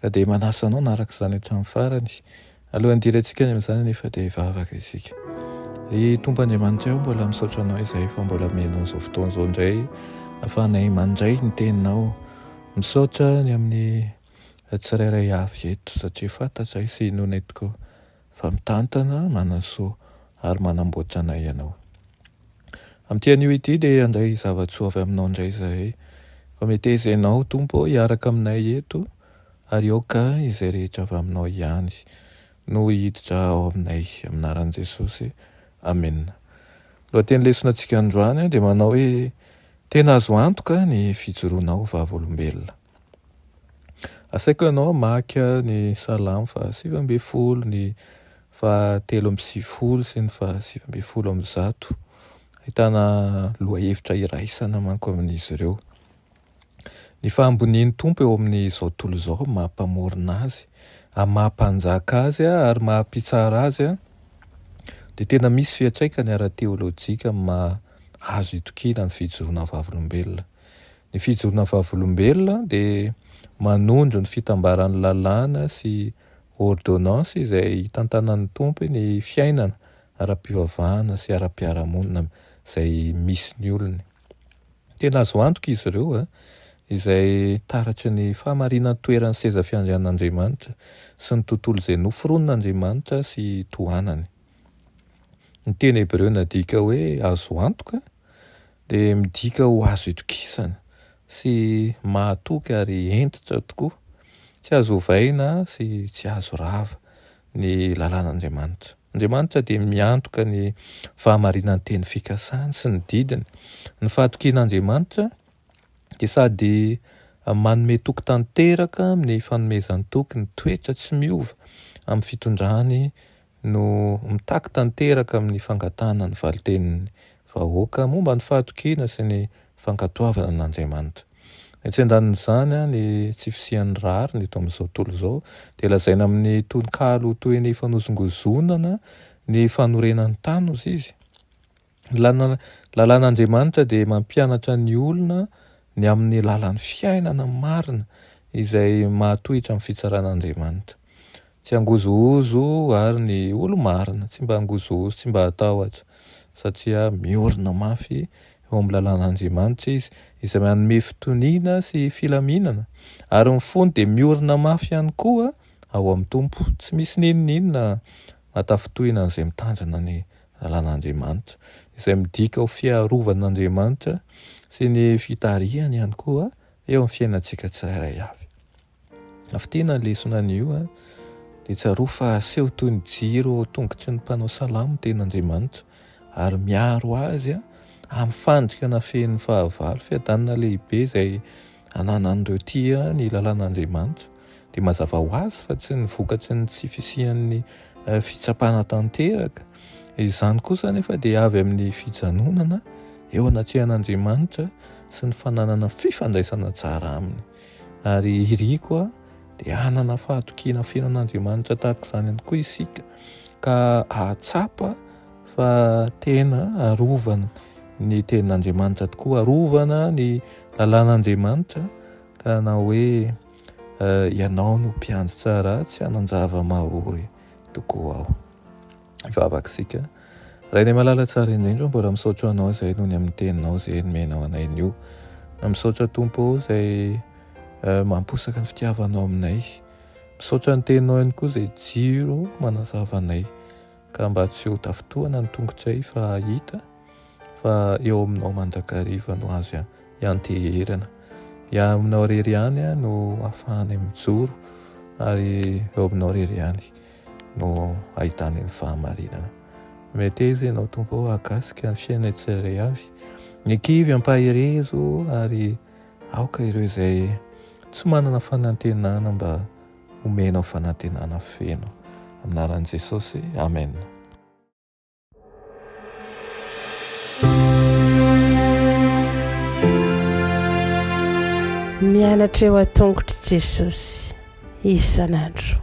Ka dia manasa anao hanaraka izany hatramin'ny farany. Alohan'ny hidirantsika any amin'izany anefa dia hivavaka isika. Ry Tompo Andriamanitray o, mbola misaotra Anao izay fa mbola omenao izao fotoana izao indray ahafahanay mandray ny Teninao. Misaotra ny amin'ny tsirairay avy eto satria fantatray sy inoanay tokoa. fa mitantana, manansoa ary manamboatra anay ianao. Amin'ity anio ity dia handray zava-tsoa avy aminao indray izahay. Koa meteza ianao, Tompo ô, hiaraka aminay eto, ary aoka izay rehetra avy aminao ihany no hiditra ao aminay. Amin'ny anaran'i Jesosy, amena. Ny lohateny lesona antsika androany dia manao hoe, Tena azo antoka ny fijoroanao vavolombelona. Asaiko ianao hamaky ny Salamo fahasivy ambin'ny folo, ny fahatelo amby sivifolo sy ny fahasivy ambin'ny folo amby zato. Ahitana lohahevitra iraisana manko amin'izy ireo. Ny fahambonian'ny Tompo eo amin'izao tontolo izao maha Mpamorona Azy, ary maha Mpanjaka Azy ary maha Mpitsara Azy dia tena misy fiantraikany ara-teolojika amin'ny maha azo itokiana ny fijoroana vavolombelona. Ny fijorona vavolombelona dia manondro ny fitambaran'ny lalàna sy ôrdônansy izay itantanan'ny Tompo ny fiainana ara-pivavahana sy ara-piarahamonina izay misy ny olony. Tena azo antoka izy ireo, izay taratry ny fahamarinan-toeran'ny seza fiandrianan'Andriamanitra sy ny tontolo izay noforonin'Andriamanitra sy tohanany. Ny teny hebreo nadika hoe azo antoka dia midika ho azo itokisana sy mahatoky ary hentitra tokoa. Tsy azo ovaina sy tsy azo rava ny lalàn'Andriamanitra. Andriamanitra dia miantoka ny fahamarinan'ny teny fikasany sy ny didiny. Ny fahatokian'Andriamanitra dia sady manome toky tanteraka amin'ny fanomezan-toky ny toetra tsy miova amin'ny fitondrany no mitaky tanteraka amin'ny fangatahana ny valin-tenin'ny vahoaka momba ny fahatokiana sy ny fankatoavana an'Andriamanitra. Etsy an-danin'izany, ny tsy fisian'ny rariny eto amin'izao tontolo izao dia lazaina amin'ny tononkalo ho toy ny fanozongozonana ny fanorenan'ny tany, hoy izy. Ny lalàn'Andriamanitra dia mampianatra ny olona ny amin'ny alalan'ny fiainana marina izay mahatohitra amin'ny fitsaran'Andriamanitra. Tsy hangozohozo ary ny olo-marina, tsy mba hangozohozo, tsy mba hatahotra satria miorina mafy eo amin'ny lalàn'Andriamanitra izy izay manome fitoniana sy filaminana ary ny fony dia miorina mafy ihany koa ao amin'ny Tompo. Tsy misy n'inon'inona mahatafitohina an'izay mitandrina ny lalàn'Andriamanitra, izay midika ho fiarovan'Andriamanitra sy ny fitarihany ihany koa eo amin'ny fiainantsika tsirairay avy. Afitina ny lesona anio a, dia tsaroa fa aseho toy ny jiro ao tongotry ny mpanao salamo teny Andriamanitra ary miaro azy a amin'ny fandrika na feno fahavalo fiadanana lehibe izay ananan'ireo tia ny lalàn'Andriamanitra, dia mazava ho azy fa tsy ny vokatry ny tsy fisian'ny fitsapana tanteraka. Izany kosa anefa dia avy amin'ny fijanonana eo anatrehan'Andriamanitra sy ny fananana fifandraisana tsara aminy. Ary iriko a, dia hanana fahatokiana feno an'Andriamanitra tahaka izany ihany koa isika, ka hahatsapa fa tena arovana ny tenin'Andriamanitra tokoa, arovana ny lalàn'Andriamanitra ka na hoe uh, ianao no mpiandry tsara tsy hanan-java mahory tokoa aho. Vavaka isika. Rainay malala tsara indrindra, mbola misaotra anao izay noho ny amin'ny teninao izay nomenao anay nio. Misaotra Tompo izay uh, mamposaka ny fitiavanao aminay. Misaotra ny teninao ihany koa izay jiro manazavanay. ka mba tsy ho tafintohana ny tongotsay fa hahita fa eo aminao mandrakariva no azo ianteherana. Ia aminao rery ihany no afahanay mijoro ary eo aminao rery ihany no ahitany ny fahamarinana. Meteza ianao Tompo akasika ny fiainanay tsirairay avy. Ny kivy ampaherezo ary aoka ireo izay tsy manana fanantenana mba Omenao fanantenana feno. Amin'ny anaran'i Jesosy, Amen. Mianatra eo an-tongotr'i Jesosy isan'andro.